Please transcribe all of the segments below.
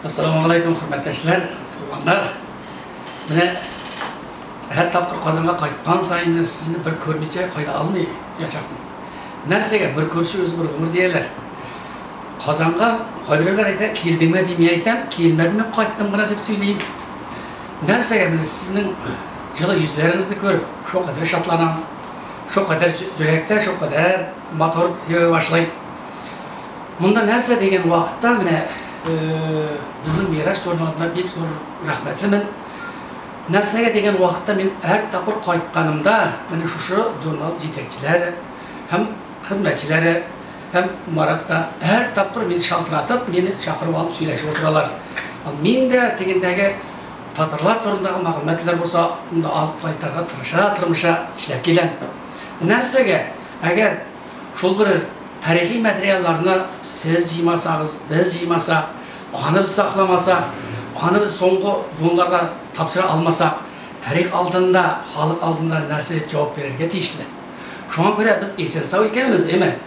Ассаламу алейкум, хөрмәттәшләр, туганнар. Менә һәр тапкыр Казанга кайткан саен мен сезне бер күрмичә кайда алмый яшәпмен. Нәрсәгә бер күрше үз бер гомер дияләр. Казанга кайберләр әйтә, килдеңме дип мин әйтәм, килмәдемме, кайттым гына дип сөйлим. Нәрсәгә мен сезнең җылы йөзләрегезне күреп, шул кадәр шатланам. Шул кадәр йөрәктә, шул кадәр мотор йөри башлый. Монда нәрсә дигән вакытта менә безнең Мираж журналына бик зур рәхмәтлемен. Нәрсәгә дигән вакытта мин һәр тапкыр кайтканымда менә шушы журнал җитәкчеләре һәм хезмәтчеләре һәм Марат та һәр тапкыр мин шалтыратып, мине чакырып алып сөйләшеп утыралар. Мин дә тегендәге татарлар турындагы мәгълүматлар булса, анда алып кайтарга тырыша, тырмыша эшләп киләм. Нәрсәгә? Әгәр Шул бер тарихи материалларны сез җыймасагыз, без җыймасак, аны без сакламасак, аны без соңгы буыннарга тапшыра алмасак, тарих алдында, халык алдында нәрсә дип җавап бирергә тиешле? Шуңа күрә без исән-сау икәнбез, эме?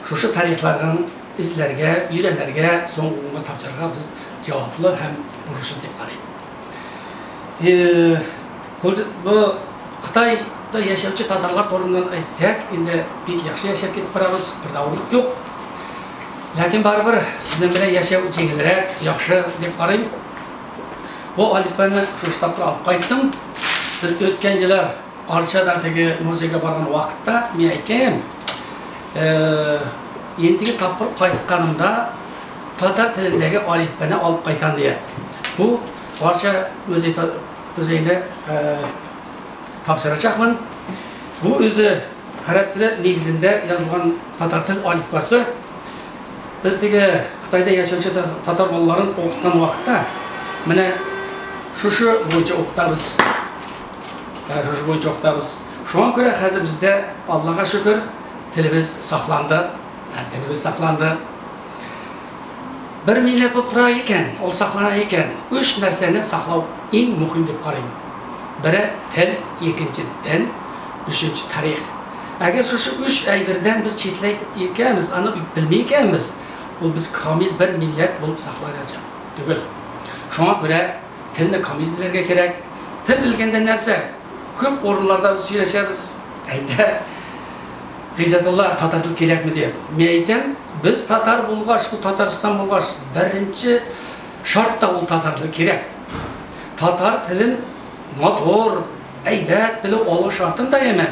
Шушы тарихлардан эзләргә, өйрәнергә, соңгы буынга тапшырырга без җаваплы һәм бурычлы дип карыйм. Худд бу Кытайда яшәүче татарлар турыннан әйтсәк, инде бик яхшы яшәп китеп барабыз, бер дә авырлык юк. Ләкин барыбер сезнең белән яшәү җиңелрәк, яхшы дип карыйм. Бу Алиппаны шушы тапкыр алып кайттым. Без үткән җылы Арчада теге музейга барган вакытта мин әйткән идем, ендиге тапкыр кайтканымда татар телендәге Алиппаны алып кайтам дигән. Бу Арча музей Үзәйдә тапшырачакмын. Бу үзе гарәп теле нигезендә язылган татар тел алифбасы. Без теге Кытайда яшәүче татар балаларын укыткан вакытта менә шушы буенча укытабыз. Шушы буенча укытабыз. Шуңа күрә хәзер бездә, Аллага шөкер, телебез сакланды. Телебез сакланды. Бер милләт булып тора икән, ул саклана икән, өч нәрсәне саклау иң мөһим дип карыйм. Бере, тел, икенче, дин, өченче, тарих. Әгәр шушы өч әйбердән без читләй икәнбез, аны белми икәнбез, ул без камил бер милләт булып сакланачак түгел. Шуңа күрә телне камил белергә кирәк. Тел белгәндә нәрсә, күп урыннарда без сөйләшәбез, әйдә, Гыйззәтулла, татар тел кирәкме дип. Мин әйтәм, без татар булгач, бу Татарстан булгач, беренче шарт та ул татар теле кирәк. Татар телен матур, әйбәт белү алу шартын да яме.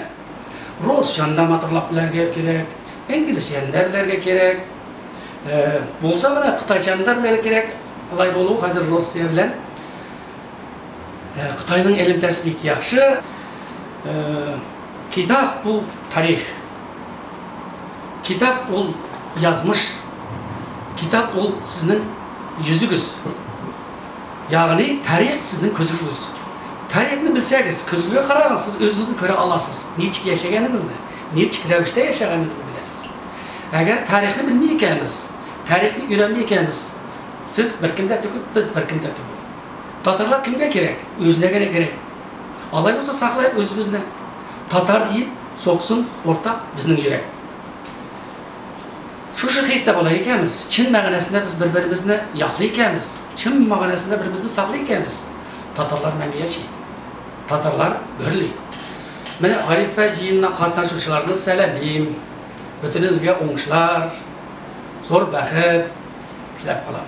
Русчаны да матурлап белергә кирәк, инглизчәне дә белергә кирәк. Булса гына кытайчаны да белергә кирәк. Алай булу хәзер Россия белән Э, Кытайның элемтәсе бик яхшы. Э, китап бу тарих. Китап ул язмыш. Китап ул сезнең йөзегез. Ягъни тарих сезнең күзегез. Тарихны белсәгез, күзегезгә карагыз, сез үзегезне күрә аласыз. Ничек яшәгәнегезне, ничек рәвештә яшәгәнегезне беләсез. Әгәр тарихны белми икәнбез, тарихны өйрәнми икәнбез, Сез беркем дә түгел, без беркем дә түгел. Татарлар кемгә кирәк? Үзенә генә кирәк. Алай булса саклаек үзебезне. Татар диеп соксын уртак безнең йөрәк. Шушы хистә була икәнбез, чын мәгънәсендә без бер-беребезне яклый икәнбез, чын мәгънәсендә бер-беребезне саклый икәнбез, татарлар мәңге яши. Татарлар гөрли. Менә Гарифә җыенына катнашучыларны сәламим. Бөтенезгә уңышлар, зур бәхет теләп калам.